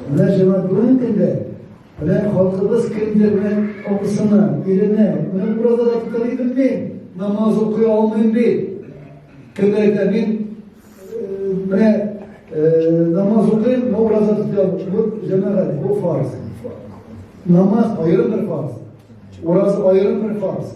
Менә җәмәгать бүгенге көндә менә халкыбыз кемдер менә абысына, иленә, менә уразада тотарый белми, намаз укый алмыйм ди. Кемдер әйтә, мин менә намаз укыйм, менә ураза тотам. Бу җәмәгать, бу фарз. Намаз аерым бер фарз. Ураза аерым бер фарз.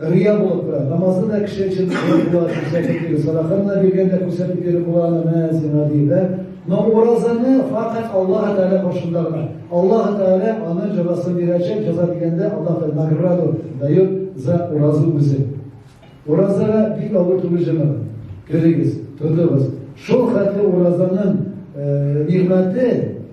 Рия булып тора. Намазны да кеше өчен кылып була, күрсәтеп бирү. Садаканы да биргәндә күрсәтеп биреп була, аны менә сиңа дип, да. Но уразаны факат Аллаһ Тәгалә каршында гына. Аллаһ Тәгалә аны җәзасын бирәчәк, җәза дигәндә Аллаһ Тәгалә награду дает за уразу үзе. Уразага бик авыр түгел җәмәгать. Керегез, тотыгыз. Шул хәтле уразаның э, нигъмәте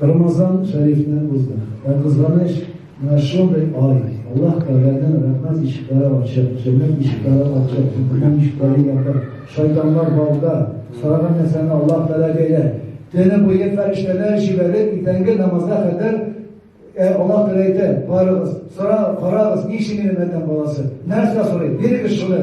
Рамазан шәрифне узды. Ә кызганыч, менә шундый ай, Аллаһ Тәгаләнең рәхмәт ишекләре ачык, җәннәт ишекләре ачык, җәһәннәм ишекләре ябык. Шайтаннар балда, сораган нәрсәне Аллаһ Тәгалә бирә. Төне буе фәрештәләр җибәреп, иртәнге намазга кадәр Ә Аллаһ Тәгалә әйтә, барыгыз, сорагыз, карагыз, ни өчен мин Адәм баласы? Нәрсә сорый? Бирегез шуны.